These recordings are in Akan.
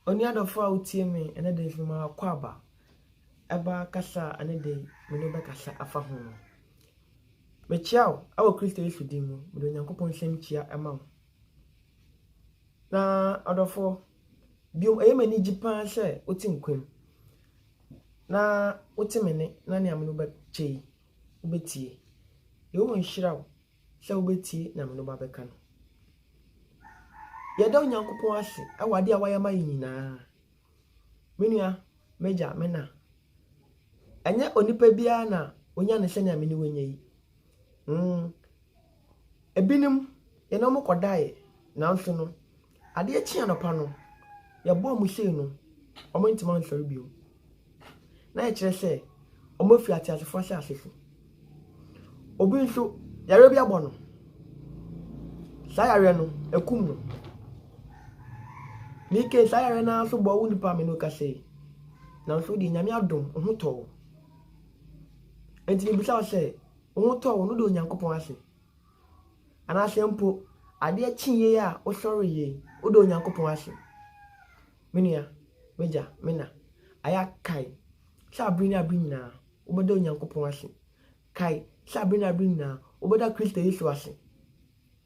Onua dɔfo a wutie me ɛnnɛ da yi, fi m'akwaaba ba kasa a ɛnnɛ da yi me ne wo bɛkasa afa ho no, mekyia wo wɔ Kristo Yesu din mu. Mede Onyankopɔn nsɛm kyia ma wo. Na ɔdɔfo, bio ɛyɛ me anigye paa sɛ wote nkwa mu na wote me ne na nea me ne wo bɛkyɛ yi wobɛtie. Yehowa nhyira wo. sɛ wobɛtie Nyame no ba bɛka no. Yɛda Onyankopɔn ase wɔ adeɛ a wayɛ ama yɛ nyinaa. Me nua, m'agya, me na. Ɛnyɛ onipa biara na onya no sɛnea me ne wanya yi. Mm. Ebinom, yɛne wɔn kɔdaeɛ, nanso no, Adeɛ kyee anɔpa no, yɛbɔɔ wɔn hyɛɛ mu, wɔantumi ansɔre bio. Na ɛkyerɛ sɛ wɔafiri ateasefoɔ asase so. Obi nso, yareɛ bi abɔ no. Saa yareɛ no, ɛkum no. Ne ke saa yareɛ no ara so bɔɔ wo nipa a me ne wo kasa yi. Nanso deɛ Nyame adom, wo ho tɔ wo. Enti mebisa wo sɛ, wo ho tɔ wo no de Onyankopɔn ase? Anaasɛ mpo adeɛ kye yie a wosɔre yie, woda Onyankopɔn ase. Me nua, m'agya, me na, ayɛ a kae sɛ abere ne abere nyinaa wobɛda Onyankopɔn ase. Kae sɛ abere ne abere nyinaa wobɛda Kristo Yesu ase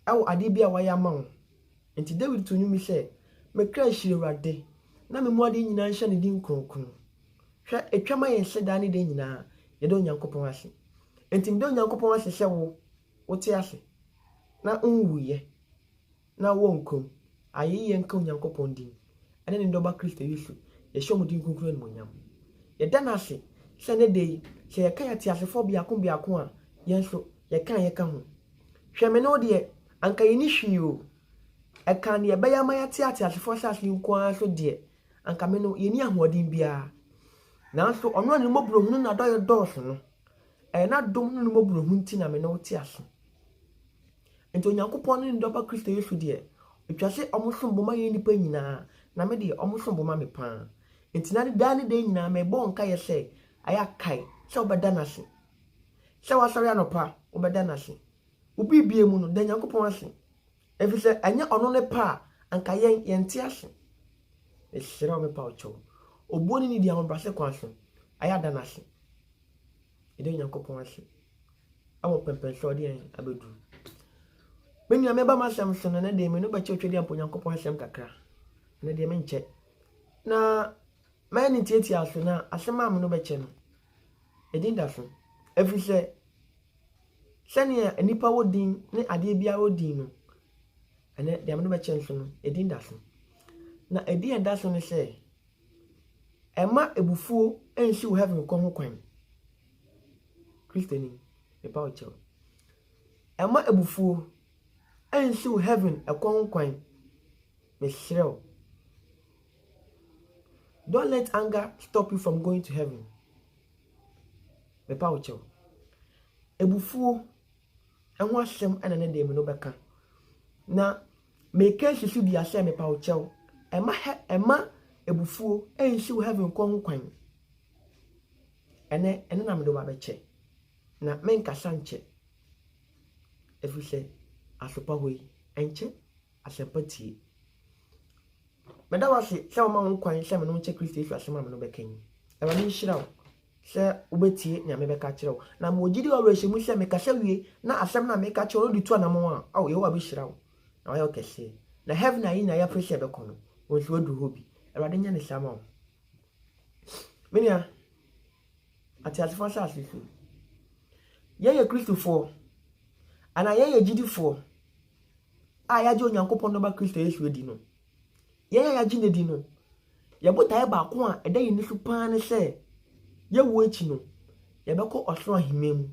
ɛwɔ adeɛ bi a wayɛ ama wo. Nti Dawid too nnwom yi sɛ, Me kra hyira Awurade, na me mu adeɛ nyinaa nhyɛ ne din kronkron. Hwɛ, ɛtwa ma yɛn sɛ daa ne daa nyinaa yɛda Onyankopɔn ase. Enti meda Onyankopɔn ase sɛ wo, wote ase, na wonwuiɛ, na woankwam. Ayeyie nka Onyankopɔn din, ɛne ne Dɔba Kristo Yesu, yɛhyɛ wɔn din kronkron animuonyam. Yɛda no ase sɛ ɛnnɛ da yi, sɛ yɛka yɛn ateasefoɔ biako biako a, yɛn nso, yɛka a yɛka ho. Hwɛ, me ne wo deɛ, anka yɛnni hwee o. Ɛkaa deɛ ɛbɛyɛ ama yɛate ateasefoɔ asase yi nko ara so deɛ, Anka me no, yenni ahoɔden biara, nanso ɔno a ne mmɔborɔhunu ne n'adɔe dɔɔso no, ɛyɛ n'adom ne ne mmɔborɔhunu nti na me ne wo te aso. Enti Onyankopɔn ne ne Dɔba Kristo Yesu deɛ, etwa sɛ wɔsom bo ma yɛn nnipa nyinaa, na me deɛ, wɔsom bo ma me paa. Enti na daa ne daa nyinaa mebɔ wo nkaeɛ sɛ, Aya, kae sɛ wobɛda no ase. Sɛ woasɔre anɔpa, wobɛda no ase. Wo biribiara mu no, da Nyankopɔn ase. Efisɛ ɛnyɛ ɔno ne pɛ a, anka yɛn, yɛnte ase. Mesrɛ wo, mepa wo kyɛw. Obuo ne nidi ahobrɛase kwan so ayɛ ada no ase. Yɛda Onyankopɔn ase ɛwɔ mpɛmpɛn sɛ ɔde yɛn abɛduru. Me nua, meba m'asɛm so no, ne deɛ me no bɛkyɛ otwa deɛ mpo Onyankopɔn asɛm kakra. Ne deɛ menkyɛ. Na mɛyɛ ne tiatia so na asɛm a me no bɛkyɛ no, ɛdin da so. Ɛfiri sɛ, Sɛnea nnipa wɔ din ne adeɛ biara wɔ din no, ɛnnɛ deɛ mede bɛkyɛ nso no, edin da so. Na edin a ɛda so ne sɛ, ɛma abufuo nsiw heaven kɔ ho kwan. Kristoni, mepa wo kyɛw. Ɛma abufuo nsiw heaven kɔ ho kwan. Mesrɛ wo. Don't let anger stop you from going to heaven. Mepa wo kyɛw. Abufuo ho asɛm na ne deɛ me no bɛka. Na meka asi so dua sɛ mepa wo kyɛw. Ɛma hɛ ɛma abufuo ɛnsiw heaven kɔ ho kwan. Ɛnɛ ɛne na me de wabɛkyɛ. Na menkasa nkyɛ. Ɛfiri sɛ asopa hɔ yi ɛnkyɛ. Asɛmpa tie. Meda wo ase sɛ woma me ho kwan sɛ me ne wo nkyɛ Kristo Yesu asɛm a me ne wobɛka yi. Awurade nhyira wo sɛ wobɛtie nea mebɛka akyerɛ wo, na mewɔ gyidi wɔ awerɛhyɛmu sɛ mekasa wie na asɛm no a mereka akyerɛ wo no de tu anammɔn a, ao, Yehowa bɛhyira wo na wayɛ wo kɛseɛ, na heaven a yɛn nyinaa yɛpere sɛ yɛbɛkɔ no, wo nso woaduru hɔ bi. Awurade nyɛ no saa ma wo. Me nua, ateasefoɔ asase so yi, yɛyɛ Kristofoɔ anaa yɛyɛ gyidifoɔ a yɛagye Onyankopɔn no ba Kristo Yesu adi no. Yɛn a yɛagye no adi no, yɛn botaeɛ baako a ɛda yɛn so paa ne sɛ yɛwuo akyi no, yɛbɛkɔ ɔsoro ahemman mu.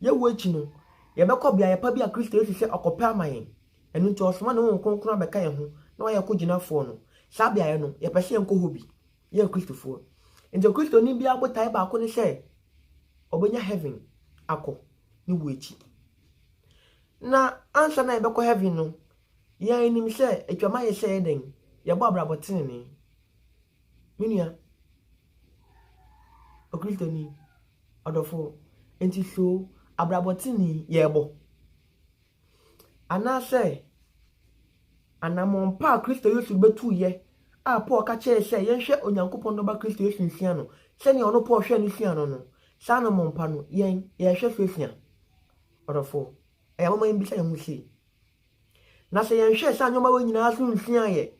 Yɛwuo akyi no, yɛbɛkɔ beaeɛ pa bi a Kristo Yesu sɛ ɔkɔpɛ ama yɛn. Ɛno nti, ɔsoma ne Honhom Kronkron abɛka yɛn ho na wayɛ kogyinafoɔ no. Saa beaeɛ no, yɛpɛ sɛ yɛnkɔ hɔ bi. Yɛyɛ Kristofoɔ. Nti Kristoni biara botaeɛ baako ne sɛ ɔbɛnya heaven akɔ ne wuo akyi. Na ansa na yɛbɛkɔ heaven no, yɛn ara nim sɛ atwam ayɛ sɛ yɛyɛ dɛn? Yɛbɔ abrabɔ tenenee. Me nua, Okristoni, ɔdɔfo, enti so abrabɔ tenenee yɛrebɔ? Anaasɛ anammɔn pa a Kristo Yesu bɛtuiɛ a Paul ka kyerɛɛ sɛ yɛnhwɛ Onyankopɔn Dɔba Kristo Yesu nsua no, sɛnea ɔno Paul hwɛɛ no suaa no no, saa anammɔn pa no, yɛn, yɛrehwɛ so asua? Ɔdɔfo, ɛyɛ a momma yɛmmisa yɛn ho sei, Na sɛ yɛnhwɛɛ saa nneɛma wei nyinaa so nsuaeɛ,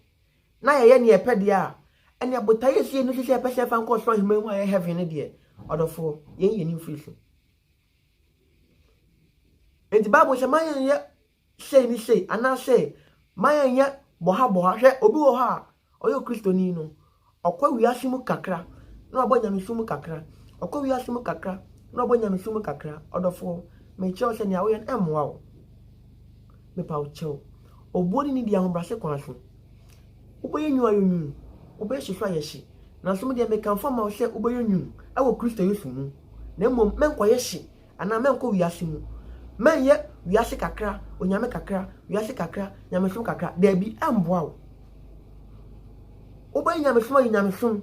na yɛyɛ nea yɛpɛ deɛ a, ɛnneɛ botaeɛ a ɛsiiɛ no si sɛ yɛpɛ sɛ yɛfa nkɔ ɔsoro ahemman mu a ɛyɛ heaven no deɛ, ɔdɔfo, yɛnyi yɛn ani mfiri so. Enti Bible sɛ ma yɛnyɛ sei ne sei, anaasɛ ma yɛnyɛ bɔhabɔha. Hwɛ, obi wɔ hɔ a, Ɔyɛ Okristoni no, ɔkɔ wiase mu kakra na wabɔ nyamesu mu kakra, ɔkɔ wiase mu kakra na wabɔ nyamesu mu kakra. Ɔdɔfoɔ, merekyerɛ wo sɛ nea woyɛ no ɛmmoa wo. Mepa wo kyɛw. Obuo ne nidi ahobrɛase kwan so. Wobɛyɛ nwunu ayɛ nwunu, wobɛyɛ hye so ayɛ hye. Nanso me deɛ, mekamfo ama wo sɛ wobɛyɛ nwunu wɔ Kristo Yesu mu, na mmom mɛnkɔyɛ hye. Anaa mɛnkɔ wiase mu. Mɛnyɛ wiase kakra, Onyame kakra, wiase kakra, nyamesom kakra. Daabi, ɛmboa wo. Wobɛyɛ nyamesom a, yɛ nyamesom.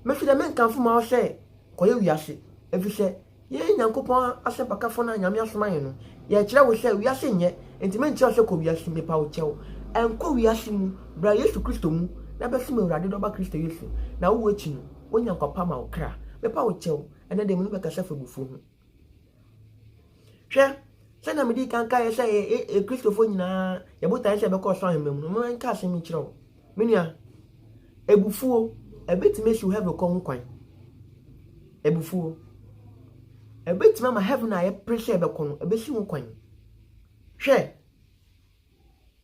Me nso deɛ menkamfo ma wo sɛ kɔyɛ wiase. Ɛfiri sɛ, yɛn Nyankopɔn asɛmpakafo no a Nyame asoma yɛn no, yɛkyerɛ wo sɛ wiase nyɛ, enti menkyerɛ wo sɛ kɔ wiase mu. Mepa wo kyɛw, nkɔ wiase mu, bra Yesu Kristo mu na bɛsom Awurade Dɔba Kristo Yesu, na wowu akyi no, wonya nkwa pa ma wo kra. Mepa wo kyɛw. Ɛnna da mu no bɛkasa fa abufuo ho. Hwɛ, sɛdeɛ mede kan kaeɛ sɛ yɛ e, e, Kristofoɔ nyinaa yɛbotaeɛ sɛ yɛbɛkɔ ɔsoro ahemman mu no, mma nka asɛm yi kyerɛ wo. Me nua, abufuo, ɛbɛtumi asiw heaven kɔ ho kwan. Abufuo, ɛbɛtumi ama heaven a yɛpere sɛ yɛbɛkɔ no, ɛbɛsi ho kwan. Hwɛ,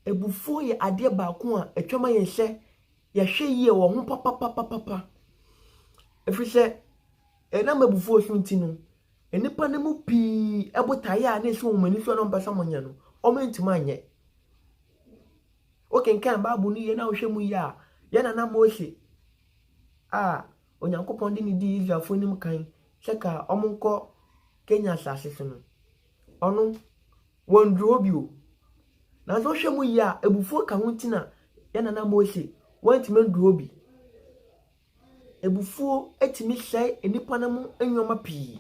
abufuo yɛ adeɛ baako a atwam ayɛ sɛ Yɛhwɛ yie wɔ ho papapapapa. Ɛfiri sɛ, ɛnam abufuo so nti no, nnipa no mu pii botaeɛ a na ɛsi wɔn ani so a na wɔpɛ sɛ wɔnyɛ no, wɔantumi anyɛ. Wokenkan Bible no yie na wohwɛ mu yie a, yɛn nana Mose a Onyankopɔn de no dii Israelfoɔ anim kan sɛ ka wɔnkɔ Kenya asase so no, ɔno Wɔnduru hɔ bio. Nanso wohwɛ mu yie a, abufuo ka ho nti na yɛn nana Mose wantumi anduru hɔ bi. Abufuo tumi sɛe nnipa no mu nneɛma pii.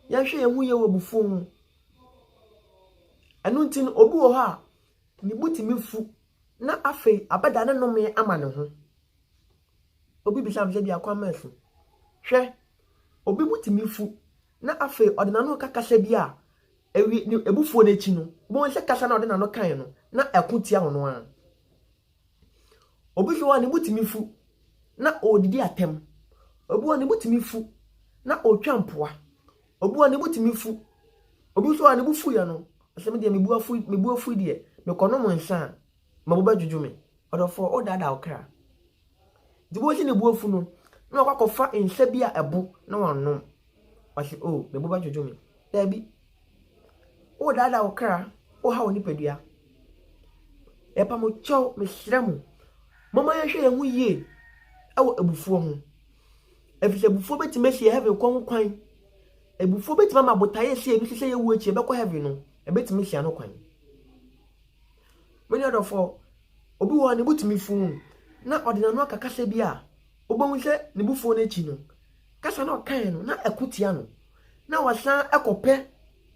Yɛnhwɛ yɛn ho yie wɔ abufuo ho. Ɛno nti no, obi wɔ hɔ a, ne bo tumi fu na afei abɛda ne nnome ama ne ho. Obi bisa me sɛ, Biako ama asu. Hwɛ, obi bo tumi fu. Na afei ɔde n'ano reka kasa bi a awie ne abufuo no akyi no, wobɛhu sɛ kasa no a ɔde n'ano kae no, na ɛko tia ɔno ara. Obi hwɛ hɔ a ne bo tumi fu na ɔredidi atɛm. Obi hɔ a ne bo tumi fu na ɔretwa mpoa. Obi hɔ a ne bo tumi fu. Obi nso hɔ a ne bo fuiɛ no, ɔsɛ me deɛ me bo afu, me bo afu deɛ, mekɔnom nsa a, Mebo bɛdwodwo me. Ɔdɔfoɔ, wodaadaa wo kra. Nti bere a ɔsi ne bo afu no, na wakɔ akɔfa nsa bi a ɛbo na wanom. Ɔse, oh, mebo bɛdwodwo me. Daabi. Wodaadaa wo kra, wohaw wo nipadua. Yɛpa mo kyɛw, mesrɛ mo, momma yɛnhwɛ yɛn ho yie wɔ abufuo ho. Ɛfiri sɛ abufuo bɛtumi asi yɛ heaven kɔ ho kwan. Abufuo bɛtumi ama botaeɛ a ɛsi yɛn ani so sɛ yɛwu akyi yɛbɛkɔ heaven no, ɛbɛtumi asi ano kwan. Me nua dɔfoɔ, obi wɔ hɔ a ne bo tumi fu wo, na ɔde n'ano aka kasa bi a, wobɛhu sɛ ne bo fuo no akyi no, kasa no a ɔkaeɛ no, na ɛko tia no, na wasan kɔpɛ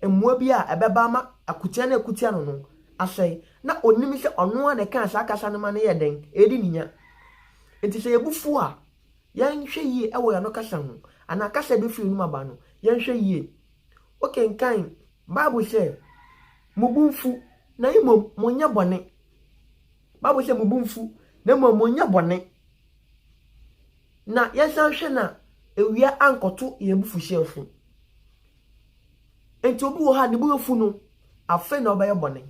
mmoa bi a ɛbɛba ama akotia no a ɛko tia no no asɛe. Na ɔnim sɛ ɔno ara na ɛkaa saa kasa no ma no yɛɛ dɛn? Ɛredi ne nya. Enti sɛ yɛn bo fu a, yɛnhwɛ yie wɔ yɛn ano kasa ho, anaa kasa a ɛbɛfiri yɛn anom aba no, yɛnhwɛ yie. Wokenkan Bible sɛ, Mo bo mfu, na mmom monyɛ bɔne. Bible sɛ, Mo bo mfu, na mmom monyɛ bɔne. Na yɛsan hwɛ na ewia ankɔto yɛn abufuhyɛ so. Enti obi wɔ hɔ a ne bo afu no, afei na ɔbɛyɛ bɔne.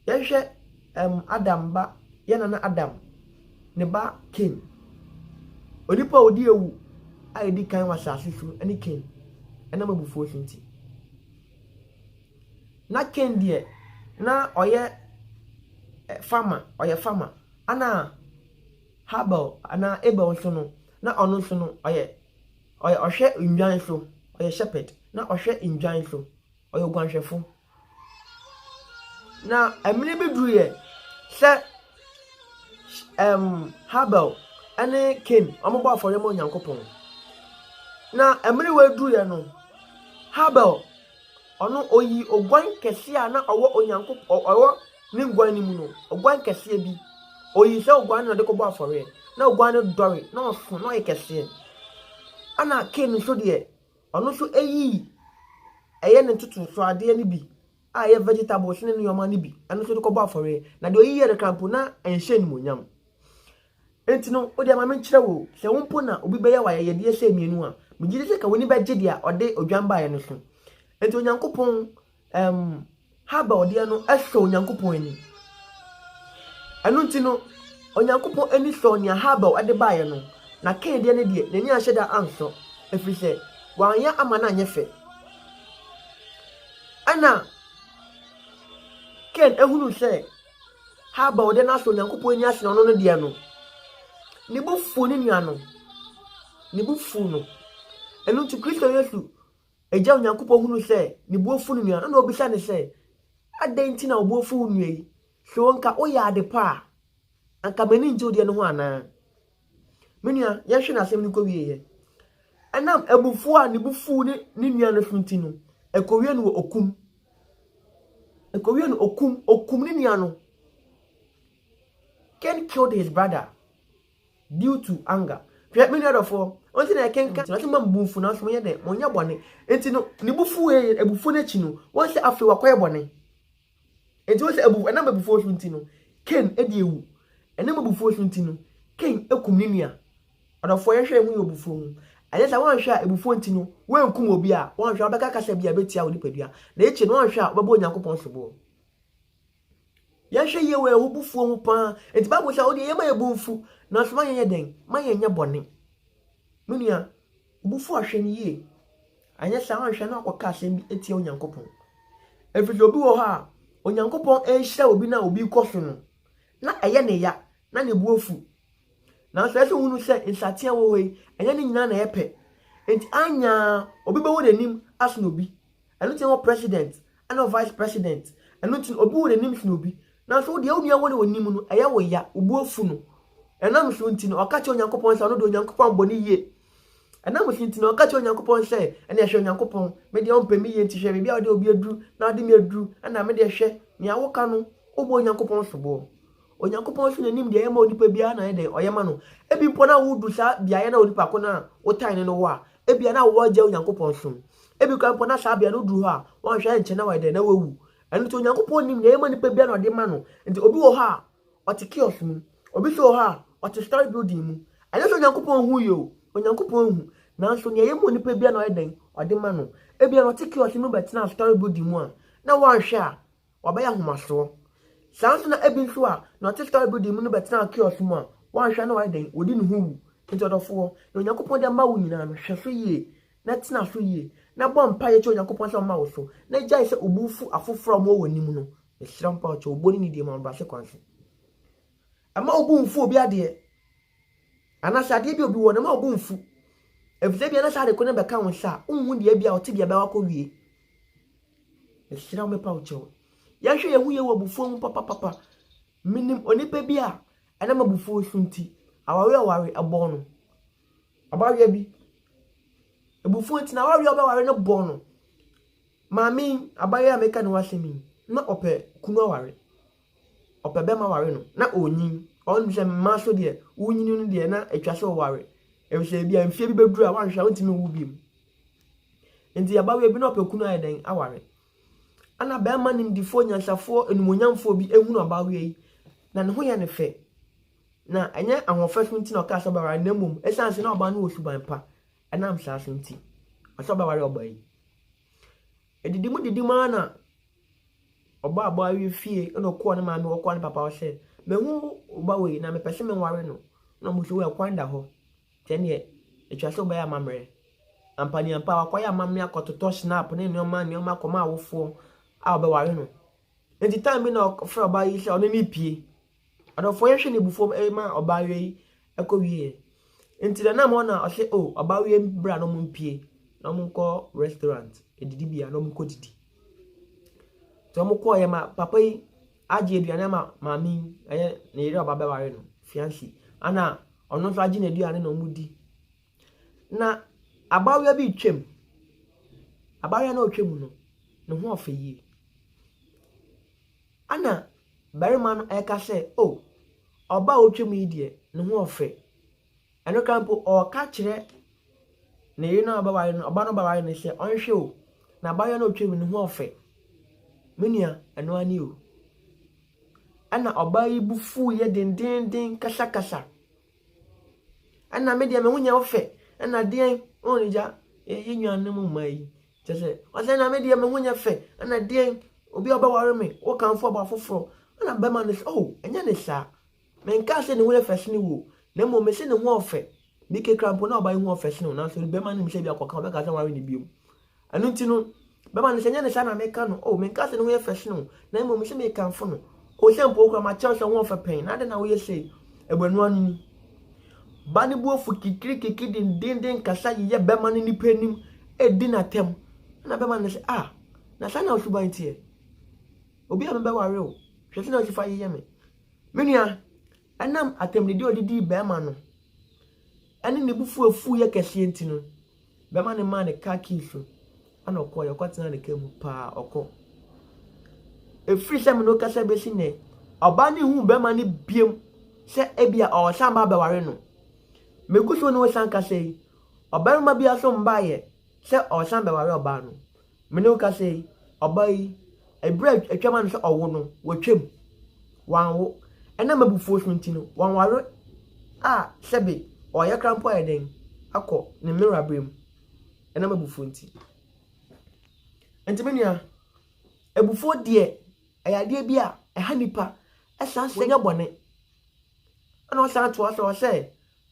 Yɛnhwɛ ɛm Adam ba, yɛn nana Adam, ne ba Kain. Onipa a ɔdi awu a ɛdi kan wɔ asase so no ne Kain, ɛnam abufuo so nti. Na Kain deɛ, na ɔyɛ farmer, ɔyɛ farmer, ana Habel anaa Abel nso no, na ɔno nso no ɔyɛ ɔyɛ ɔhwɛ nnwan so, ɔyɛ shepherd, na ɔhwɛ nnwan so. Ɔyɛ oguanhwɛfo. Na mmere bi duruiɛ sɛ ɛɛm Habel ne Kain wɔbɔ afɔreɛ ma Onyankopɔn. Na mmere wei duruiɛ no, Habel ɔno ɔyi oguan kɛseɛ a na ɔwɔ Onyankop ɔwɔ ne nguan no mu no, oguan kɛseɛ bi. Ɔyi sɛ oguan no na ɔde kɔbɔ afɔreɛ. Na oguan no dɔre, na ɔso, na ɔyɛ kɛseɛ. Ɛna Kain nso deɛ, Ɔno nso eyi ɛyɛ ne ntotoso adeɛ no bi a ɛyɛ vegetables ne nneɛma no bi ɛno nso de kɔbɔ afɔreɛ. Na deɛ ɔyi yɛ no koraa mpo na ɛnhyɛ animuonyam. Enti no, wo deɛ ma menkyerɛ wo, sɛ wo mpo na obi bɛyɛ wo ayɛyɛdeɛ sɛ mmienu a, megye di sɛ ka w'ani bɛgye deɛ ɔde odwan baeɛ no so. Enti Onyankopɔn Ɛm, Habel deɛ no sɔɔ Onyankopɔn ani. Ɛno nti no, Onyankopɔn ani sɔɔ nea Habel de baeɛ no, na Kain deɛ no deɛ, n'ani anhyɛ da ansɔ, ɛfiri sɛ, wanyɛ amma no anyɛ fɛ. Ɛnna Kain hunuu sɛ Habel deɛ no asɔ Onyankopɔn ani asene ɔno no deɛ no, ne bo fuu ne nua no. Ne bo fuu no. Ɛno nti Kristo Yesu Agya Onyankopɔn hunuu sɛ ne bo afu no nua no na ɔbisa no sɛ, Adɛn nti na wo bo afu wo nua yi? So anka woyɛ ade pa a, anka m'ani ngye wo deɛ no ho anaa? Me nua, yɛnhwɛ n'asɛm no kɔwieɛ. Ɛnam abufuo a ne bo fuu ne ne nua no so nti no, ɛkɔwie no wɔ okum. Ɛkɔwie no okum, ɔkum ne nua no. Cain killed his brother. Due to anger. Hwɛ, me nuadɔfoɔ, ɔnti na ɛkenka, na ɔsɛ mma mbu mfu, nanso monyɛ dɛn? Monyɛ bɔne. Enti no, ne bo fuwee, abufuo no akyi no, wɔn sɛ afei wakɔyɛ bɔne. Enti wɔn sɛ abu, ɛnam abufuo so nti no, Kain adi ewu. Ɛnam abufuo so nti no, Kain akum ne nua. Ɔdɔfoɔ, yɛnhwɛ yɛn ho yɛ abufuo ho. Ɛnyɛ sɛ wɔnhwɛ a abufuo nti no, wɔankum obi a, wɔnhwɛ a wɔbɛka kasa bi a ɛbɛtia wo nipadua, na akyire no wɔnhwɛ a wɔbɛbɔ Onyankopɔn soboɔ. Yɛnhwɛ yie wɔ yɛn ho bufuo ho pa ara. Enti Bible sɛ, Wodeɛ yɛn mma yɛn bo mfu, nanso ma yɛnyɛ dɛn? Ma yɛnyɛ bɔne. Me nua, wo bo fu a, hwɛ no yie. Anyɛ saa a, woanhwɛ na woakɔka asɛm bi atia Onyankopɔn. Ɛfiri sɛ obi wɔ hɔ a, Onyankopɔn rehyira obi na obi rekɔ so no, na ɛyɛ ne ya, na ne bo afu. Nanso ɛsɛ sɛ wohunu sɛ nsateaa wɔ hɔ yi, ɛnyɛ ne nyinaa na ɛyɛ pɛ. Enti anyɛ a, obi bɛwɔ n'anim asen obi. Ɛno nti na ɔwɔ president ɛna ɔwɔ vice president ɛno nti no obi wɔ n'anim sene obi nanso wo deɛ wo nua wɔ no w'anim no ɛyɛ wo ya wo bo afu no ɛnam so nti no ɔka kyerɛ Onyankopɔn sɛ ɔno deɛ Onyankopɔn abɔ ne yie ɛnam so nti no ɔka kyerɛ Onyankopɔn sɛ ɛne ɛhwɛ Onyankopɔn me deɛ ɔmpɛ me yie nti hwɛ baabi a wode obi aduru na wode me aduru ɛna me deɛ hwɛ nea woka no wobɔ Onyankopɔn soboɔ Onyankopɔn nso na onim deɛ ɛyɛ ma onipa biara na ayɛ dɛn? Ɔyɛ ma no. Ebi mpo na wodu saa beaeɛ na onipa ko no a wotan no no wɔ a, ebia na woagyae Onyankopɔn som. Ebi koraa mpo na saa beaeɛ no woduru hɔ a, woanhwɛ ankyɛ na wayɛ dɛn? Na wawu. Ɛno nti Onyankopɔn nim deɛ ɛyɛ ma nipa biara na ɔde ma no. Nti obi wɔ hɔ a, ɔte kiosk mu. Obi nso wɔ hɔ a, ɔte storey building mu. Ɛnyɛ sɛ Onyankopɔn nhui o, Onyankopɔn hu. Nanso deɛ ɛyɛ ma onipa biara na ɔyɛ dɛn? Ɔde ma no. Ebia na ɔte kiosk mu no bɛtenaa storey building mu a, na woanhwɛ a, Wabɛyɛ ahomasoɔ. Saa nso na ɛbi nso a na ɔte store building mu no bɛtenaa kiosk mu a, woanhwɛ a na wayɛ dɛn? Wadi ne ho wu. Enti ɔdɔfoɔ, deɛ Onyankopɔn de ama wo nyinaa no, hwɛ so yie, na tena so yie, na bɔ mpaeɛ kyerɛ Onyankopɔn sɛ ɔmma wo so, na gyae sɛ wo bo fu afoforɔ a wɔwɔ w'anim no. Mesrɛ wo mpaeɛ kyɛ, obuo ne nidie ma wɔbrɛ ase kwan so. Ɛmma wo bo mfu obi adeɛ, anaasɛ adeɛ bi a obi wɔ no, ɛmma wo bo mfu. Ɛfiri sɛ ebia na saa ade ko no bɛka wo nsa a, wonhu deɛ ebia ɔtebea bɛyɛ akɔwie. Mesrɛ wo mepa wo kyɛw. Yɛhwɛ yɛn ho yie wɔ abufuo mu papapapa. Menim onipa bi a ɛnam abufuo so nti, aware ɔware ɛbɔɔ no. Ɔbayewa bi, abufuo nti na aware ɔbɛware no bɔɔ no. Maame yi, abayewa a meka ne ho asɛm yi, na ɔpɛ kunu aware. Ɔpɛ bɛrima aware no, na ɔnyin. Ɔnim sɛ mmaa so deɛ, wonyini no deɛ na atwa sɛ ɔware. Ɛfiri sɛ ebi a mfeɛ bi bɛduru a woanhwɛ a wontumi nwo bio. Enti abaayewa bi ne ɔpɛ kunu ayɛ dɛn aware? Ɛna barima nimdifoɔ, nyansafoɔ, animuonyamfoɔ bi hunu abaayewa yi, na ne ho yɛ no fɛ. Na ɛnyɛ ahoɔfɛ so nti na ɔkaa sɛ ɔbɛware, na mmom ɛsiane sɛ na ɔbaa no wɔ suban pa. Ɛnam saa so nti, ɔsɛ ɔbɛware ɔbaa yi. Ɛdidi mu didi mu ara na ɔbɔ abaayewa fie na ɔkɔɔ ne maame, ɔkɔɔ ne papa hɔ sɛ, mahu wo ba wei na mepɛ sɛ menware no. Na wɔsɛ, o ɛkwan da hɔ. Kyɛ neɛ, ɛtwa sɛ wobɛyɛ amammerɛ. Ampaneampa, wakɔyɛ amammerɛ akɔtotɔ Schnapp ne nneɛma nneɛma akɔma awofoɔ a wɔbɛware no. Enti time bi na ɔfrɛ ɔbaa yi sɛ ɔne no pue. Adɔfoɔ yɛhwɛ ne abufuo ma ɔbaa wei ɛkɔ wieɛ. Enti na nam hɔ na ɔse o ɔbaa wei bra na ɔmo mpue na ɔmo nkɔ restaurant, adidibea na ɔmo nkɔ didi. Nti ɔmo kɔɔyɛ ma papa yi agye aduane ama maame yi, ɛyɛ ne yere a ɔbabɛware no, fiancé, ɛna ɔno nso agye n'aduane na wɔdi. Na abaayewa bi retwam. Abaayewa no a ɔretwa mu no, ne ho ɔfɛ yie. Ɛna barima no reka sɛ, oh, ɔbaa a ɔretwam yi deɛ, ne ho ɔfɛ. Ɛno koraa mpo, ɔreka kyerɛ ne yere no a ɔbɛware no, ɔba no a ɔbɛware no sɛ, Ɔnhwɛ o, n'abaayewa no a ɔtwam no ho ɔfɛ. Me nua, ɛno ara ni o. Ɛnna ɔbaa yi bo fuiɛ dendeenden kasakasa. Ɛnna me deɛ me ho nyɛ wo fɛ, ɛnna deɛn? Ɔn ne gya, yɛn nuanom mmaa yi, kyerɛ sɛ, ɔsɛ ɛnna me deɛ me ho nyɛ fɛ, ɛnna deɛn? Obi a ɔbɛware me, wokamfo ɔbaa foforɔ. Ɛnna bɛrima no sɛ, o, ɛnyɛ ne saa. Menkaa sɛ ne ho yɛ fɛ sene wo o, na mmom mese ne ho ɔfɛ. Me kekra mpo, na ɔbaa yi ho ɔfɛ sene wo, nanso ɔde bɛrima no nim sɛ ebia kɔka a ɔbɛka sɛ wanwe no biom. Ɛno nti no, bɛrima no sɛ ɛnyɛ ne saa na meka no, oh, menkaa sɛ ne ho yɛ fɛ sene wo, na mmom mese mekamfo no, oh, sɛ mpo wo koraa makyerɛ wo sɛ ho ɔfɛ pɛn, na adɛn na woyɛ sei? Ɛbɔ ɛno ara no ni. Ba no bu afu kikirikiki dendeenden kasa yeyɛ bɛrima no nnipa anim di no atɛm. Ɛna bɛrima no sɛ, ah, na saa na wo suban teɛ? Obi a mebɛware o, hwɛ sɛnea wo si fa yeyɛ me. Me nua, ɛnam atɛmnidi a ɔde dii bɛɛma no ɛne ne bo fu afu yɛ kɛseɛ nti no, bɛɛma no maa ne car keys so ɛna ɔkɔɔ yɛ ɔkɔ tena ne car mu paa ɔkɔ. Ɛfiri sɛ me no kasa bɛsi nɛ, ɔbaa no nhuu bɛɛma no biam sɛ ebi a ɔresan ba abɛware no. Megu so ne wo san kasa yi, ɔbarima biara so mbaeɛ. sɛ ɔresan bɛware ɔbaa no. Me ne wo kasa yi, ɔbaa yi, ɛberɛ a atwam ano sɛ ɔwo no, watwam. Wanwo. Ɛnam abufuo so nti no, wanware a sɛbe ɔreyɛ koraa mpo ayɛ dɛn akɔ ne mmerɛwaberɛ mu ɛnam abufuo nti. Nti me nua, abufuo deɛ ɛyɛ adeɛ bi a ɛha nipa, ɛsan hyɛ nyɛ bɔne. Ɛna ɔsan toa so ɔsɛ,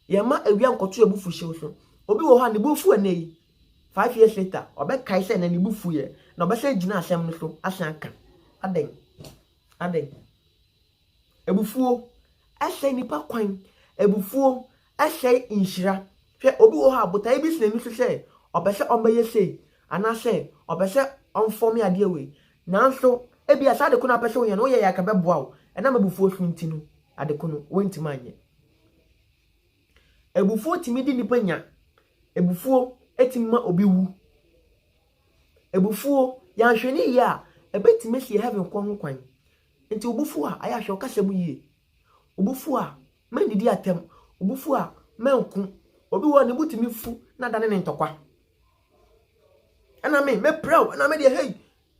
Yɛmma awia nkɔto y'abufuhyew so. Obi wɔ hɔ a ne bo afuw ɛnnɛ yi, five years later, ɔbɛkae sɛ ɛnnɛ ne bo fuiɛ, na ɔbɛsan agyina asɛm no so asan aka. Adɛn? Adɛn? Abufuo sɛe nnipa kwan. Abufuo sɛe nhyira. Hwɛ, obi wɔ hɔ a botaeɛ bi si n'ani so sɛ ɔpɛ sɛ ɔbɛyɛ sei, anaasɛ ɔpɛ sɛ ɔmfɔme adeɛ wei, nanso ebia saa ade ko no a wopɛ sɛ woyɛ no, woyɛeɛ a ɛka bɛboa wo, ɛnam abufuo so nti no, ade ko no, woantumi anyɛ. Abufuo tumi di nnipa nya. Abufuo tumi ma obi wu. Abufuo, yɛanhwɛ no yie a, ɛbɛtumi asi yɛn heaven kɔ ho kwan. Nti wo bo fu a, ayɛ a hwɛ wo kasa mu yie. Wo bo fu a, mɛnnidi atɛm. Wo bo fu a, mɛnko. Obi wɔ hɔ a, ne bo tumi fu na adane ne ntɔkwa. Ɛna me, mɛpira wo, ɛna me deɛ, hei,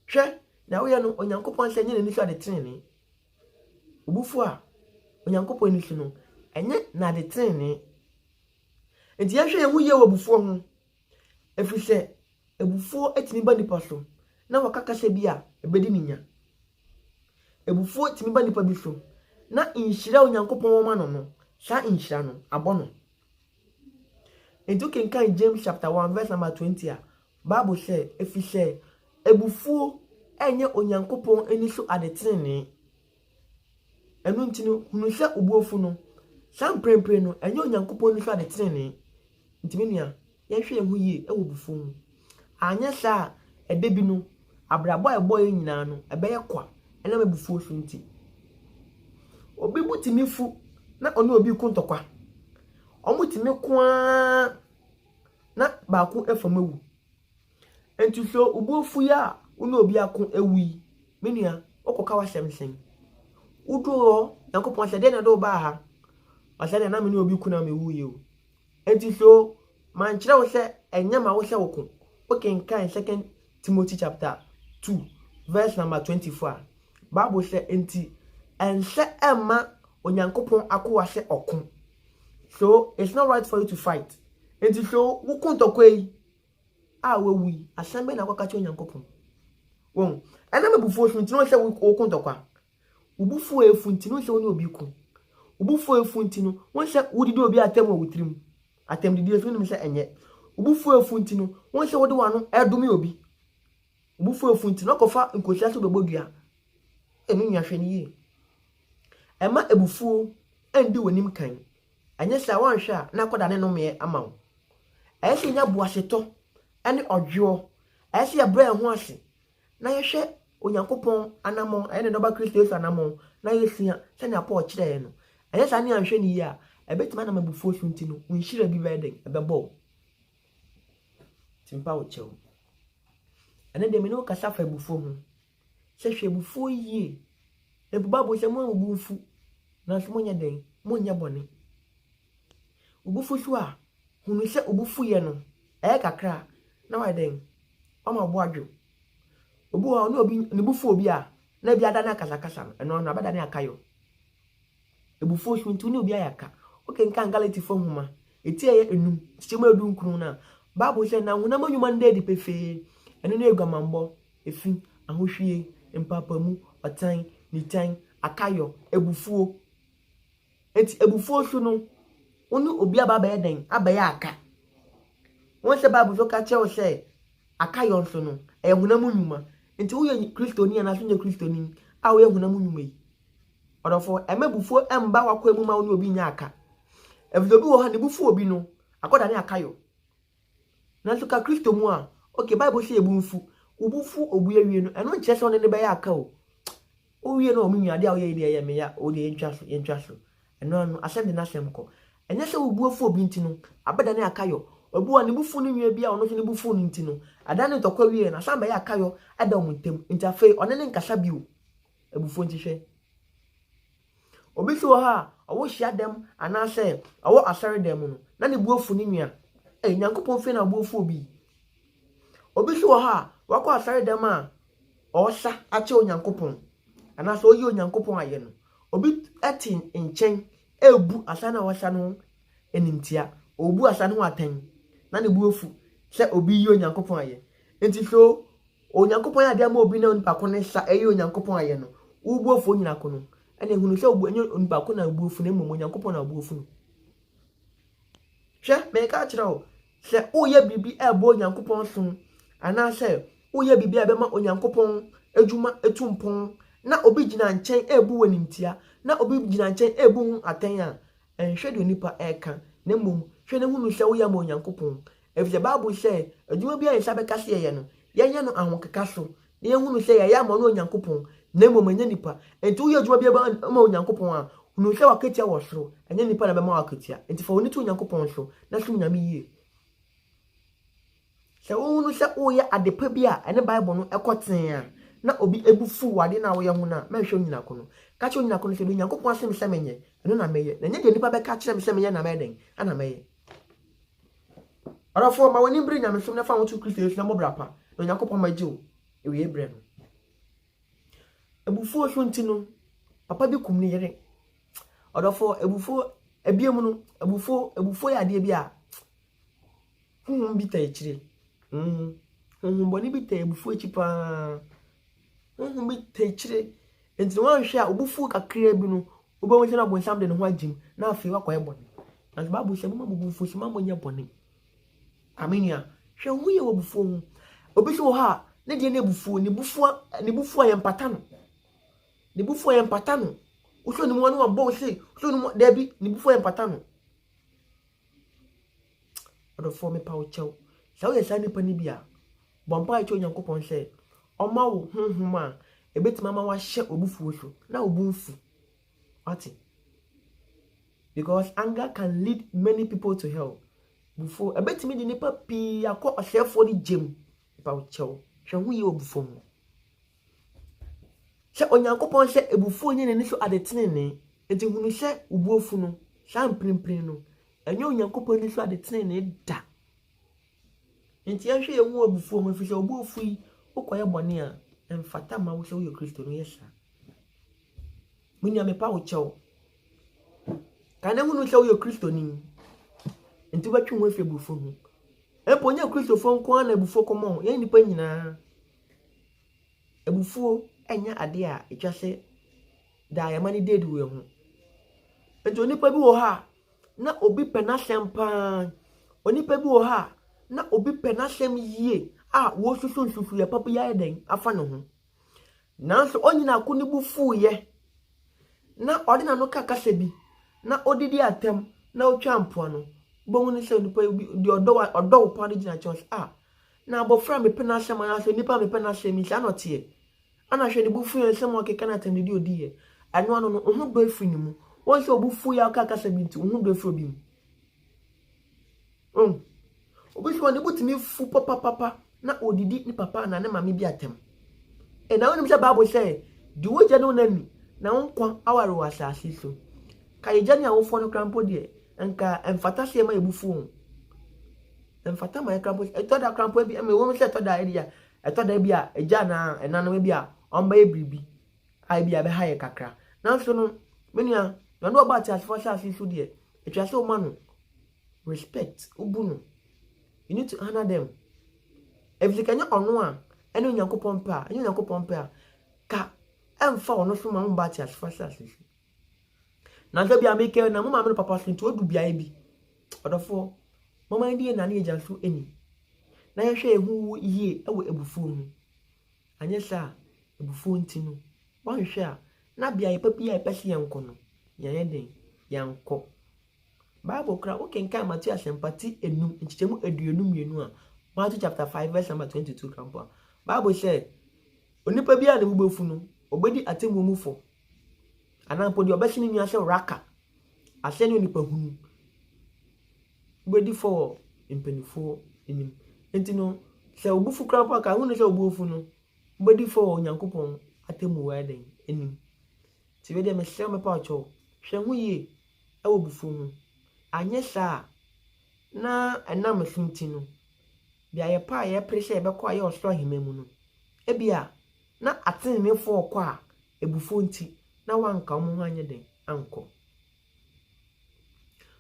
hwɛ, deɛ woyɛ no, Onyankopɔn sɛ nyɛ n'ani so ade tenenee. Wo bo fu a, Onyankopɔn ani so no, ɛnyɛ n'ade trenee. Enti yɛnhwɛ yɛn ho yie wɔ abufuo ho, ɛfiri sɛ abufuo tumi ba nipa so na waka kasa bi a ɛbɛdi ne nya. Abufuo tumi ba nipa bi so na nhyira Onyankopɔn wɔma no no, saa nhyira no abɔ no. Enti wokenkan James chapter 1 verse number 20 a, Bible sɛ, Ɛfiri sɛ abufuo nyɛ Onyankopɔn ani so ade tenenee. Ɛno nti no, hunu sɛ wo bo afu no, saa mprempren no, ɛnyɛ Onyankopɔn ani so ade tenenee. Nti me nua, yɛnhwɛ yɛn ho yie wɔ abufuo ho. Anyɛ saa a, ɛda bi no, abrabɔ a ɛbɔeɛ yi nyinaa no, ɛbɛyɛ kwa ɛnam abufuo so nti. Obi bo tumi fu na ɔne obi reko ntɔkwa. Wɔtumi ko ara. na baako afam awu. Enti hwɛ wo bo afuiɛ a wo ne obi ako awu yi, me nua, wokɔka w'asɛm sɛn? Woduru hɔ, Nyankopɔn sɛ, deɛ na ɛde wo baa ha? Ɔsɛ deɛ na me ne obi ko na mewuiɛ o. Enti hwɛ o, mankyerɛ wo sɛ ɛnyɛ ma wo sɛ woko. Wokenkan Second Timothy chapter 2 verse number 24 a, Bible sɛ, Enti ɛnsɛ mma Onyankopɔn akoa sɛ ɔko. So it's not right for you to fight. Enti so wo ko ntɔkwa yi a wawu yi, asɛm bɛn na akɔka kyerɛ Onyankopɔn? Wɔn, ɛnam abufuo so nti no sɛ wo ko ntɔkwa. Wo bufuo a efu nti no sɛ wo ne obi ko. Wo bufuo a efu nti no, wɔn sɛ wodidi obi atam wɔ wo tirim. Atam didie so wonim sɛ ɛnyɛ. Wo bufuo a efu nti no, wɔn sɛ wode w'ano ɛdome obi. Obu fu afu nti na ɔkɔfa nkosua sɛ ɔbɛbɔ dua. Ee, me nua, hwɛ no yie. Mma abufuo nndi w'anim kan, anyɛ saa a woanhwɛ a na akɔdane nnomeɛ ama wo. Ɛyɛ sɛ yɛnya boasetɔ ne ɔdwoɔ. Ɛyɛ sɛ yɛbrɛ yɛn ho ase na yɛhwɛ Onyankopɔn anammɔn, ɛyɛ ne Dɔba Kristo Yesu anammɔn, na yɛsua sɛnea Paul kyerɛeɛ no. Ɛnyɛ saa ne yɛanhwɛ no yie a, ɛbɛtumi anam abufuo so nti no, wo nhyira bi bɛyɛ dɛn? Ɛbɛbɔ wo. Nti mpa wo kyɛw. Ɛno deɛ me ne wo kasa fa abufuo ho. Sɛ hwɛ abufuo yie. Ebu Bible sɛ mo a mo bo mfu nanso monyɛ dɛn? Monyɛ bɔne. Wo bo fu so a, hunu sɛ wo bo fuiɛ no, ɛyɛ kakra a, na wayɛ dɛn? Wama wo bo adwo. Obi wɔ hɔ a, ɔne obi, ne bo fu obi a, na ebi ada ne akasakasa no, ɛno ano abɛda ne akayɔ. Abufuo, hwi nti wo ne obi ayɛ aka. Wokenkan Galatifoɔ nwoma ti a ɛyɛ enum, nkyekyɛmu a ɛyɛ dunkron no a, Bible sɛ, Na honam nnwuma no da adi pefee, ɛno ne aguamammɔ, efi, ahohwie, mpaapaemu, ɔtan, nitan, akayɔ, abufuo. Enti abufuo so no, wo ne obi aba abɛyɛ dɛn? Abɛyɛ aka. Wohu sɛ Bible nso ka kyerɛ wo sɛ akayɔ nso no, ɛyɛ honam nnwuma. Enti woyɛ Kristoni anaasɛ wonyɛ Kristoni a woyɛ honam nnwuma yi, Ɔdɔfo, mma abufuo mma w'akwaa mu mma wo ne obi nyɛ aka. Ɛfisɛ obi wɔ hɔ a, ne bo fu obi no, akɔdane akayo. Nanso ka Kristo mu a, okay, Bible se yɛ bo nfu. Wo bo fu obi awie no, ɛno nkyerɛ sɛ ɔne no bɛyɛ aka o. Wowie no a, me nua, adeɛ a woyɛ yi deɛ ɛyɛ me ya, wo deɛ yɛntwa so, yɛntwa so. Ɛno ara no, asɛm de n'asɛm kɔ. Ɛnyɛ sɛ wo bo afu obi nti no, abɛdane akayo. Obi wɔ hɔ a, ne bo fu ne nua bi a ɔno nso ne bo fu no nti no, adane ntɔkwa wieɛ no, asan bɛyɛ akayo da wɔn ntam. Enti afei, ɔne no nkasa bio. abufuo nti hwɛ. Obi nso wɔ hɔ a, ɔwɔ hyiadɛm anaasɛ ɔwɔ asɔredɛm mu no, na ne bo afu ne nua. Ei, Nyankopɔn fie na bo afu obi. Obi nso wɔ hɔ a, wakɔ asɔredɛm a ɔresa akyɛ Onyankopɔn anaasɛ ɔyi Onyankopɔn ayɛ no. Obi te nkyɛn rebu asa no a wasa no ho animtia. Ɔrebu asa no ho atɛn, na ne bo afu sɛ obi yi Onyankopɔn ayɛ. Nti hwɛ o, Onyankopɔn ayɛ ade ama obi na onipa ko ne sa ɛyɛ Onyankopɔn ayɛ no, wo bu ofuo nyina ko no, ɛne hunu sɛ obu ɛnyɛ onipa ko na obu ofu no mmom Onyankopɔn na obu ofu no. Hwɛ, meka akyerɛ wo, sɛ woyɛ biribi ɛbɔ Onyankopɔn so, anaasɛ woyɛ biribi a ɛbɛma Onyankopɔn adwuma atu mpɔn, na obi gyina nkyɛn ɛrebu wo animtia, na obi gyina nkyɛn ɛrebu ho atɛn a, ɛnhwɛ deɛ onipa ɛreka, na mmom hwɛ na hunu sɛ woyɛ ama Onyankopɔn, Efisɛ Bible sɛ, Adwuma biara a yɛn nsa bɛka sɛ yɛyɛ no, yɛnyɛ no ahokeka so, na yɛnhu no sɛ yɛyɛ ama ɔno Onyankopɔn, na mmom ɛnyɛ nnipa. Enti woyɛ adwuma biara ma Onyankopɔn a, hu no sɛ w'akatua wɔ soro, ɛnyɛ nnipa na ɛbɛma wo akatua. Enti fa w'ani to Onyankopɔn so, na som Nyame yie. Sɛ wohu no sɛ woreyɛ adepa bi a ɛne Bible no kɔ tee a, na obi bo fuw wo ade no a woyɛ ho no a, mɛnhwɛ wo nyina ko no. Ka kyerɛ wo nyina ko no sɛ, Nea Onyankopɔn ase me sɛ menyɛ, ɛno na mɛyɛ, na ɛnyɛ deɛ nnipa bɛka akyerɛ me sɛ menyɛ na mɛyɛ dɛn? Ɛna mɛyɛ. Ɔdɔfoɔ, ma w'ani mbere Nyamesom na fa wo to Kristo Yesu na mmɔ bra pa, na Onyankopɔn bɛgye wo awiei berɛ no. Abufuo so nti no, papa bi kum ne yere. Ɔdɔfoɔ, abufuo, ebiem no, abufuo, abufuo yɛ adeɛ bi a honhom bi ta akyire. Mm. Honhom bɔne bi ta abufuo akyi paa. Honhom bi ta akyire, enti woanhwɛ a obufuo kakraa bi no, wobɛhu sɛ na bonsam de ne ho agyem, na afei wakɔyɛ bɔne. Nanso Bible sɛ, Momma mo bo mfu so, mma monyɛ bɔne. A me nua, hwɛ wo ho yie wɔ abufuo ho. Obi nso wɔ hɔ a, ne deɛ ne abufuo, ne bufuo, ne bufuo a yɛmpata no. Ne bufuo a yɛmpata no. Wosɔ ne mu ano abɔ wo se, wosɔ ne mu, daabi, ne bufuo a yɛmpata no. Adɔfoɔ mepa wo kyɛw, sɛ woyɛ saa nipa no bi a, bɔ mpaeɛ kyerɛ Onyankopɔn sɛ ɔma wo honhom a ɛbɛtumi ama wahyɛ obufuo so na wo bo mfu. Wate? Because anger can lead many people to hell. Bufuo ɛbɛtumi de nipa pii akɔ ɔsɛefoɔ no gyam. Mepa wo kyɛw, hwɛ ho yie wɔ bufuo ho. Sɛ Onyankopɔn sɛ abufuo nyɛ n'ani so ade tenenee, enti hunu sɛ wo bo afu no, saa mprempren no, ɛnyɛ Onyankopɔn ani so ade tenenee da. Enti yɛnhwɛ yɛn ho abufuo ho, ɛfiri sɛ wo bo afu yi, wokɔyɛ bɔne a, ɛmfata ma wo sɛ woyɛ Kristo no yɛ saa. Me nua mepa wo kyɛw. Ka ne hunu sɛ woyɛ Kristoni, nti wobɛtwe ho afiri abufuo ho. Mpo nyɛ Kristofoɔ nko ara na abufuo kɔmɔ, yɛn nnipa nyinaa. Abufuo nyɛ adeɛ a ɛtwa sɛ daa yɛma no di adi wɔ yɛn ho. Nti onipa bi wɔ hɔ a, na obi pɛ n'asɛm pa ara. Onipa bi wɔ hɔ a, na obi pɛ n'asɛm yie a wɔresusu nsusuiɛ pa bi ayɛ dɛn afa ne ho. Nanso ɔnyina ko ne bo fuiɛ na ɔde n'ano ka kasa bi na ɔdidi atɛm na ɔtwa mpoano. Wobɛhu no sɛ onipa bi deɛ ɔdɔ wo ɔdɔ wo paa no gyina nkyɛn sɛ a Na abɔfra a mepɛ n'asɛm anaasɛ onipa a mepɛ n'asɛm yi, saa na ɔteɛ. Ana hwɛ ne bo fuiɛ, nsɛm a ɔkeka ne atɛmdidi a ɔdiiɛ, ɛno ano no, wo ho dɔ afiri ne mu. Woahu sɛ wo bo fuiɛ a woka kasa bi nti, wo ho dɔ afiri obi mu? Woahu? Obi nso wɔ hɔ a, ne bo tumi fu papapapa na ɔdidi ne papa anaa ne maame bi atɛm. E, na wonim sɛ Bible sɛ, Di w'agya ne wo na ni, na wo nkwa aware wɔ asase so. Ka yɛn agya ne yɛn awofoɔ no koraa mpo deɛ, anka ɛmfata sɛ yɛma yɛn bo fu wɔn. Ɛmfata ma yɛkra mpo. Ɛtɔ da koraa mpo, ebi, ɛmɛ wɔn sɛ ɛtɔ da ebi a, ɛtɔ da ebi a, agya anaa ɛnanom ebi a, wɔn bɛyɛ biribi a ebi a ɛbɛha yɛ kakra. Nanso no, me nua, na ɔno ɔba ateasefo asase so deɛ, ɛtwa sɛ ɔma no respect, wobu no. You need to honor them. Ɛfiri kanyɛ ɔno a, ɛne Onyankopɔn pɛ a, ɛnyɛ Onyankopɔn pɛ a, ka ɛmfa ɔno so ma wɔn ba ateasefo asase so. Na sɛ bia me kɛ na mo maame no papa so nti odu biaɛ bi ɔdɔfoɔ moma yɛn de yɛn na ne yɛn gya so ani na yɛn hwɛ yɛn ho wuo yie ɛwɔ abufuo ho anyɛ saa abufuo nti no wɔn hwɛ a na biaɛ pa bi a ɛpɛ sɛ yɛn kɔ no yɛn yɛ den yɛn kɔ Bible kora wo kenkan Matthew asɛmpa ti enum nkyekyɛmu aduonu mmienu a Matthew chapter 5 verse number 22 kampo a Bible sɛ onipa bi a ne bo bɛfu no ɔbɛdi atemmuo mu fɔ anaa mpo deɛ ɔbɛhyɛ ne nua sɛ raka, asɛe ne onipahunu. Wobɛdi fɔ wɔ mpanimfoɔ anim. Enti no, sɛ wo bo fu koraa mpo a, ka ɛho nni sɛ wo bo afu no, wobɛdi fɔ wɔ Onyankopɔn atemmuo ayɛ dɛn anim. Nti wei deɛ mesrɛ wo mepa wo kyɛw, hwɛ ho yie wɔ bufuo ho. Anyɛ saa a, na ɛnam me so nti no, baabi a yɛpɛ a yɛpere sɛ yɛbɛkɔ ayɛ ɔsoro ahemman mu no, ebia Na ateneneefoɔ rekɔ a, abufuo nti, na wɔanka wɔn ho anyɛ dɛn ankɔ.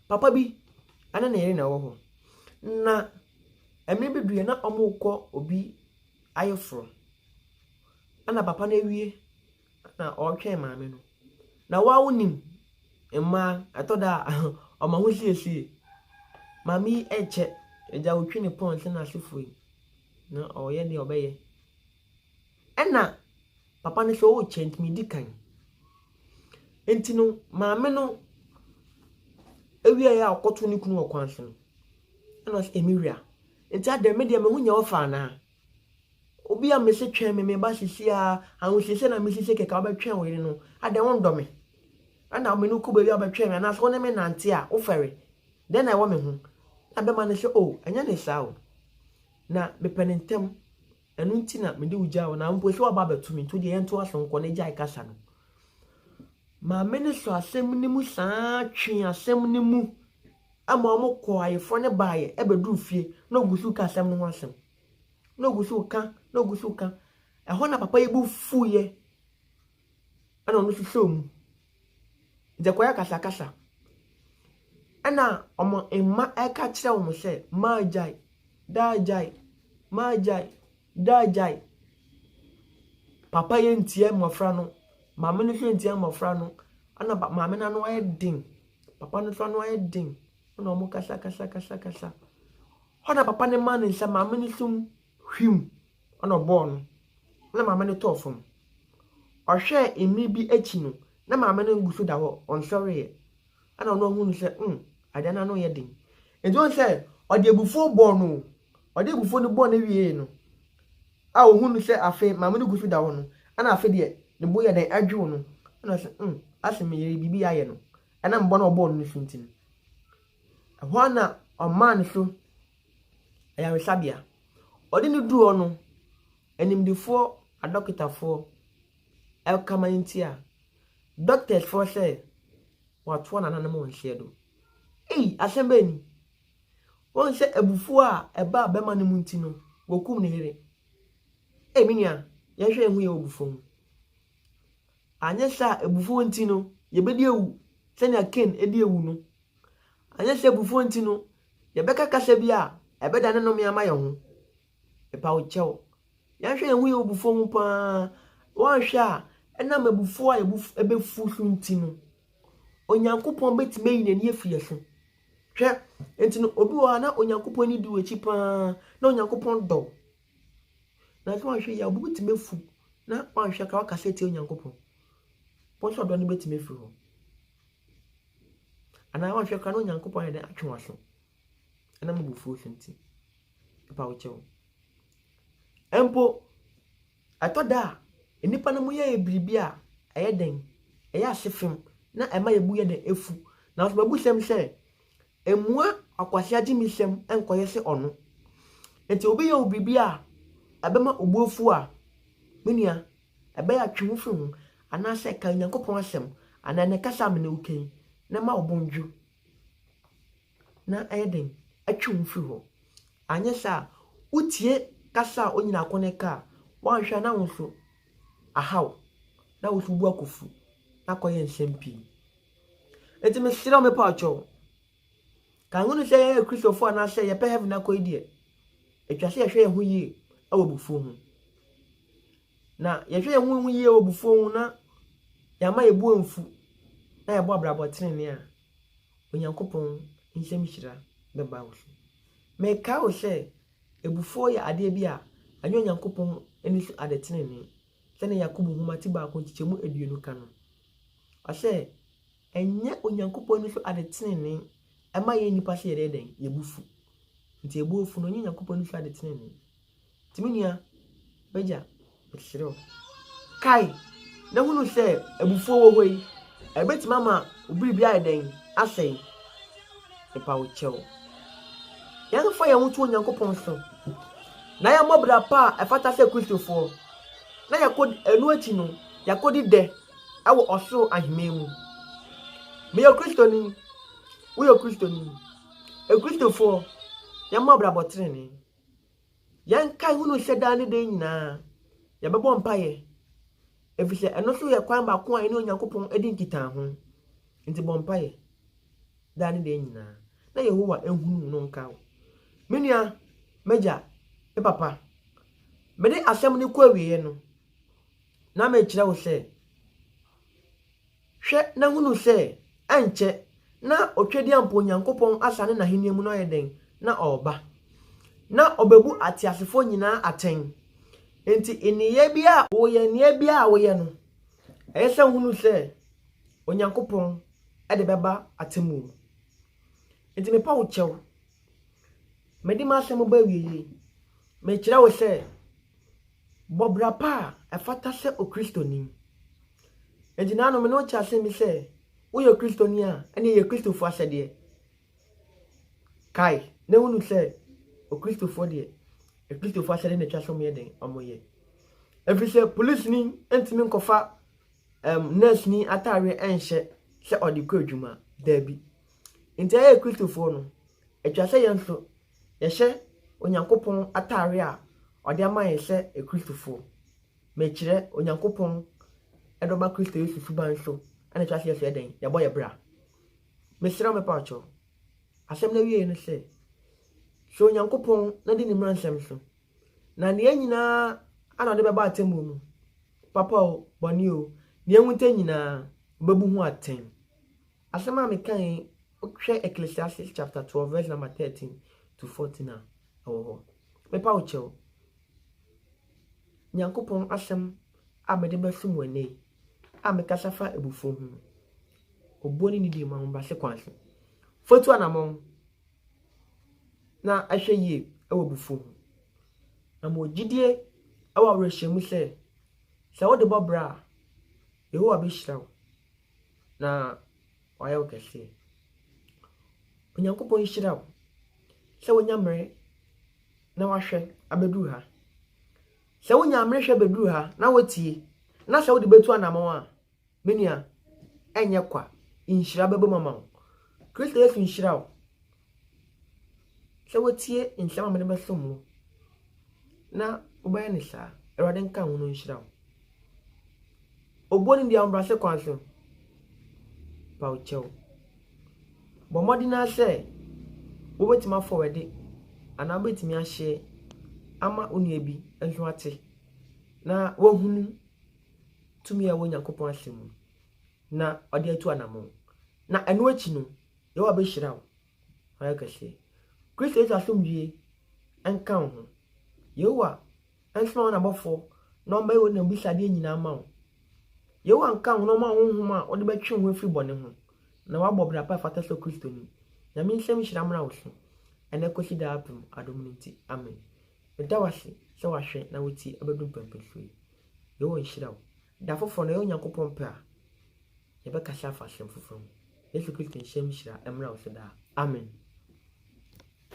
Papa bi ne ne yere na ɛwɔ hɔ. Na mmerɛ bi duruiɛ na wɔrekɔ obi ayeforo. Ɛna papa no awie na ɔretwɛn maame no. Na waa wonim mmaa ɛtɔ da a wɔn ho siesie. Maame yi rekyɛ, agya ɔretwi ne pɔn sɛ n'asefoɔ yi na ɔreyɛ deɛ ɔbɛyɛ. Ɛna papa no sɛ oh kyɛ nti medi kan. Nti no maame no wiaeɛ a ɔkɔto ne kunu wɔ kwan so no ɛna ɔsɛ ɛmi wia. Nti adɛn me deɛ me ho nyɛ ɔfa anaa? Obi a mese twɛn me meba sisi a ahosiesie na mesi sɛ kɛkɛ wobɛtwɛn wo yere no adɛn wondɔ me? Ɛna me no kɔ baabi a wobɛtwɛn me anaasɛ wo ne me nante a wofɛre dɛn na ɛwɔ me ho? Na bɛma no sɛ oh ɛnyɛ ne saa o na mepɛ ne ntɛm. Ɛno nti na mede wo gyae hɔ, na mpo sɛ woaba abɛto me nti, wo deɛ yɛntoa so nkɔ, na gyae kasa no. Maame no sɔ asɛm no mu saa ara twee asɛm no mu ma wɔkɔɔ ayeforɔ no baeɛ ɛbɛduru fie na ɔgu so ka asɛm no ho asɛm. Na ɔgu so ka, na ɔgu so ka. Ɛhɔ na papa yi bo fuiɛ. ɛna ɔno nso hyɛɛ mu dze kɔyɛ akasakasa. Ɛna wɔn mma reka kyerɛ wɔn sɛ, Maagyae, daagyae, maagyae, daagyae. Papa yɛ ntia mmɔfra no, maame no nso yɛ ntia mmɔfra no. Ɛna pa maame no ano ayɛ den, papa no nso ano ayɛ den, ɛna wɔkasakasakasakasa. Hɔ na papa no maa ne nsa maame no so mu hwim na ɔbɔɔ no na maame no tɔɔ fam. Ɔhwɛɛ mmere bi akyi no, na maame no gu so da hɔ, ɔnsɔreeɛ. Ɛnna ɔno ɔhunu sɛ, hmm, adeɛ no ano yɛ den. Enti wohu sɛ ɔde abufuo bɔɔ no o. Ɔde abufuo no bɔɔ no wiee no, a ɔhunu sɛ afei maame no gu so da hɔ no, ɛnna afei deɛ ne bo yɛ dɛn, ɛdwoo no. Ɛnna ɔse, hmm, ase me yere biribi ayɛ no. Ɛnam bɔ no a ɔbɔɔ no no so nti no. Ɛhɔ ara na ɔmaa ne so Ayaresabea. Ɔde no duu hɔ no, animdefoɔ adɔkotafoɔ ɛkama no nti a, doctors foɔ sɛ watoa nananom wɔn hyeɛ do. Ei, asɛm bɛn ni? Wɔn sɛ abufuo a ɛbaa bɛma no mu nti no, wɔkum ne yere. Ei, me nua, yɛnhwɛ yɛn ho yɛ wɔ abufuo ho. Anyɛ sɛ a, abufuo nti no, yɛbɛdi awu sɛnea Cain ɛdi awu no. Anyɛ sɛ abufuo nti no, Yɛbɛka kasa bi a ɛbɛdane nnome ama yɛn ho. Mepa wo kyɛw, yɛnhwɛ yɛn ho yɛn abufuo ho pa ara. Woanhwɛ a, ɛnam abufuo a yɛbu bɛfuo so nti no, Onyankopɔn bɛtumi ayi n'ani afiri yɛn so. Hwɛ, nti no, obi wɔ hɔ a na Onyankopɔn ani di w'akyi pa ara, na Onyankopɔn dɔ wo. Nanso woanhwɛ yie a, obi bɛtumi afu, na woanhwɛ koraa wakasa atia Onyankopɔn. Wɔn nso ɔdɔ no bɛtumi afiri hɔ. Anaa woanhwɛ koraa na Onyankopɔn ayɛ dɛn atwe w'aso ɛnam abufuo so nti. Ɛpa wo kyɛw. Mpo ɛtɔ da a nnipa no mu yɛ biribi a ɛyɛ dɛn, ɛyɛ ase fam na ɛma yɛbu yɛ dɛn efu. Nanso mabu sɛm sɛ mmua ɔkwasi agye mi sɛm nkɔyɛ sɛ ɔno. Nti obi yɛ wo biribi a ɛbɛma obu afu a, me nua, Ɛbɛyɛ a twe wo firi ho, anaasɛ ka Onyankopɔn asɛm, anaa ne kasa a me ne wo ka yi, na ɛma wo bo nnwo, na ayɛ den atwe wo firi hɔ. Anyɛ saa a, wotie kasa a onyin ako no reka a, woanhwɛ a na wo nso ahaw, na wo nso wo bo akɔfu, na akɔyɛ nsɛm pii. Enti mesrɛ wo, mepawkyɛw, Ka nhu no sɛ yɛyɛ Kristofo anaasɛ yɛpɛ heaven akɔ yi deɛ, ɛtwa sɛ yɛhwɛ yɛn ho yie wɔ abufuo ho. Na yɛhwɛ yɛn ho yie wɔ abufuo ho na yɛama yɛn bo amfu na yɛbɔ abrabɔ tenenee a, Onyankopɔn nsɛm nhyira bɛba wo so. Mekae wo sɛ abufuo yɛ adeɛ bi a ɛnyɛ Onyankopɔn ani so ade tenenee sɛdeɛ Yakobo nhoma ti baako nkyekyɛmu aduonu ka no. Ɔsɛ Ɛnyɛ Onyankopɔn ani so ade trenee ɛma yɛn nnipa sɛ yɛbɛyɛ dɛn? Yɛbo fu. Nti yɛbo afu no, ɛnyɛ Onyankopɔn ani so ade trenee. Nti me nua, bagya, mesrɛ wo, kae na hunu sɛ abufuo wɔ hɔ yi, ɛbɛtumi ama wo biribi ayɛ dɛn? Asɛe. Mepa wo kyɛw. Yɛmfa yɛn ho to Onyankopɔn so na yɛmmɔ bra pa a ɛfata sɛ Kristofoɔ na yɛakɔ ɛno akyi no, yɛakɔdi dɛ wɔ ɔsoro ahemman mu. Meyɛ Kristoni, woyɛ Kristoni. Akristofoɔ, yɛmmɔ abrabɔ tenenee. Yɛnkae hunu sɛ daa ne daa nyinaa, yɛbɛbɔ mpaeɛ. Ɛfiri sɛ ɛno nso yɛ kwan baako a ɛne Onyankopɔn adi nkitaho. Nti bɔ mpaeɛ daa ne daa nyinaa na Yehowa nhunu no nka wo. Me nua, m'agya, me papa, mede asɛm no kɔ awieeɛ no, Na merekyerɛ wo sɛ, Hwɛ na hunu sɛ, ɛnkyɛ na Otwadiampɔ Nyankopɔn asane n'ahennie mu na ɔyɛ dɛn? Na ɔreba. Na ɔbɛbu ateasefoɔ nyinaa atɛn. Enti nneyɛɛ biara a woyɛ, nneɛ biara a woyɛ no, ɛyɛ sɛ wohunu sɛ Onyankopɔn de bɛba atemmuo. Enti mepa wo kyɛw, mede m'asɛm ba awieyie, merekyerɛ wo sɛ, Bɔ bra pa a ɛfata sɛ Okristoni. Enti na ano me ne wo kyɛ asɛm bi sɛ, woyɛ Okristoni a, ɛnneɛ yɛ Kristofo asɛdeɛ. Kae na hunu sɛ Okristofoɔ deɛ, Akristofo asɛdeɛ na ɛtwa sɛ wɔyɛ den, wɔyɛ. Ɛfiri sɛ polisini ntumi nkɔfa um, nɛɛsini ataareɛ ɛnhyɛ sɛ ɔde kɔ adwuma. Daabi. Enti ɛyɛ Kristofoɔ no, ɛtwa sɛ yɛn nso Yɛhyɛ Onyankopɔn atare a ɔde ama yɛn sɛ Akristofoɔ. Mekyerɛ, Onyankopɔn Dɔba Kristo Yesu suban so na ɛtwa aseɛ sɛɛ dɛn? Yɛbɔ yɛn bra. Mesrɛ wo mepawkyɛw, asɛm no awieɛ ne sɛ, suro Onyankopɔn na di ne mmaransɛm so, na nea nyina ara na ɔde bɛba atemmuo mu, papa o, bɔne o, nea ɛho nte nyina ara, ɔbɛbu ho aten. Asɛm a mekae Wohwɛ Ecclesiastes chapter twelve verse number thirteen to fourteen a, ɛwɔ hɔ. Mepa wo kyɛw, Nyankopɔn asɛm a mede bɛsom wo ɛnnɛ yi, a mekasa fa abufuo ho no, obuo ne nidie ma wɔn ba se kwan so. Fotu anamɔn na ɛhwɛ yie wɔ abufuo ho, na ma ogyidie wɔ awerɛhyɛmu sɛ, sɛ wode bɔ bra a, Yehowa bɛhyira wo. Na Wayɛ wo kɛseɛ. Onyankopɔn nhyira wo sɛ wonya mmerɛ na wahwɛ abɛduru ha. Sɛ wonya mmerɛ hwɛ bɛduru ha na wotie na sɛ wode bɛtu anamɔn a, me nua, ɛnyɛ kwa, nhyira bɛbɔ mu ama wo. Kristo Yesu nhyira wo. sɛ wotie nsɛm a mede bɛsom wo na wobɛyɛ no saa. Awurade nka wo ho na ɔnhyira wo. Obuo no bi ahobrɛase kwan so pa wo kyɛw. Bɔ mmɔden ara sɛ wobɛtumi afɔwɛde anaa wobɛtumi ahyɛ ama wo nua bi nso ate na wahunu tumi a ɛwɔ Onyankopɔn asɛm mu na ɔde atu anammɔn. Na ɛno akyi no, Yehowa bɛhyira wo ayɛ kɛseɛ. Kristo Yesu asomdwoeɛ nka wo ho. Yehowa nsoma wo n'abɔfoɔ na ɔmmɛyɛ wo deɛ wobisadeɛ nyinaa ma wo. Yehowa nka wo ho na ɔma wo honhom a wode bɛtwe wo ho afiri bɔne ho na woabɔ bra pa a ɛfata sɛ Kristoni. Nyame nsam nhyira mmra wo so ɛnnɛ kɔsi daa apem adom no nti. Amen. Meda wo ase sɛ woahwɛ na woatie abɛduru mpɛmpɛnsoɔ yi. Yehowa nhyira wo. Da foforɔ no, ɛyɛ Onyankopɔn pɛ a, yɛbɛkasa afa asɛm foforɔ ho. Yesu Kristo nhyira mu nhyira mmra wo so daa. Amen.